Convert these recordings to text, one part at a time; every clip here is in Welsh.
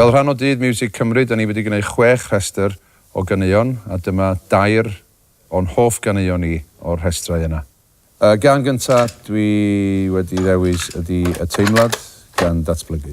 Fel rhan o Dydd Miwsig Cymru, da ni wedi gwneud chwech rhestr o ganeuon, a dyma dair o'n hoff ganeuon ni o'r rhestrau yna. Y gân gyntaf dwi wedi ddewis ydi Y Teimlad gan Datblygu.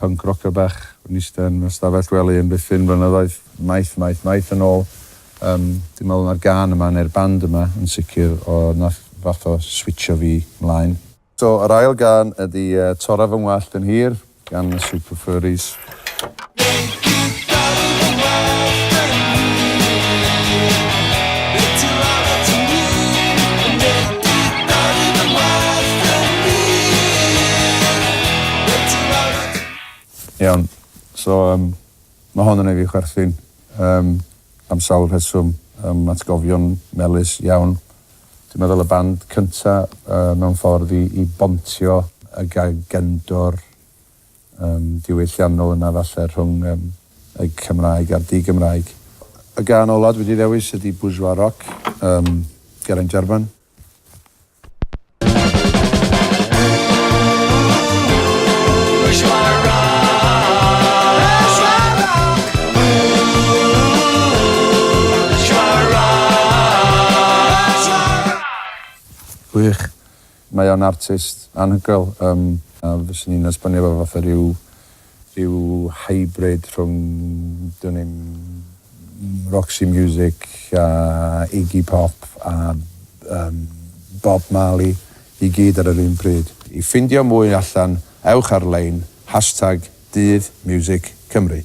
Punk rocker bach yn ista yn fy stafell wely amddiffyn flynyddoedd, maith, maith, maith yn ôl. Yym, dwi'n meddwl ma'r gân yma, neu'r band yma yn sicr, o, nath fath o switsio fi 'mlaen. So, yr ail gân ydi Tora Fy Ngwallt yn Hir gan y Super Furries. Iawn so yym ma' hon yn neu' fi chwerthin yym am sawl rheswm yym atgofion melys iawn. Dwi'n meddwl y band cynta yy mewn ffordd i i bontio y ga- gendor yn ddiwylliannol yna falle rhwng y Cymraeg a'r di-Gymraeg. Y gân ola dwi 'di ddewis ydi Bourgeois Rock, um, Geraint Jarman. Gwych. Mae o'n artist anhygoel yym a fyswn i'n esbonio fo fatha ryw ryw hybrid rhwng dwn i'm Roxy Music a Iggy Pop a yym Bob Marley i gyd ar yr un pryd. I ffindio mwy allan ewch ar lein hashtag Dydd Miwsic Cymru.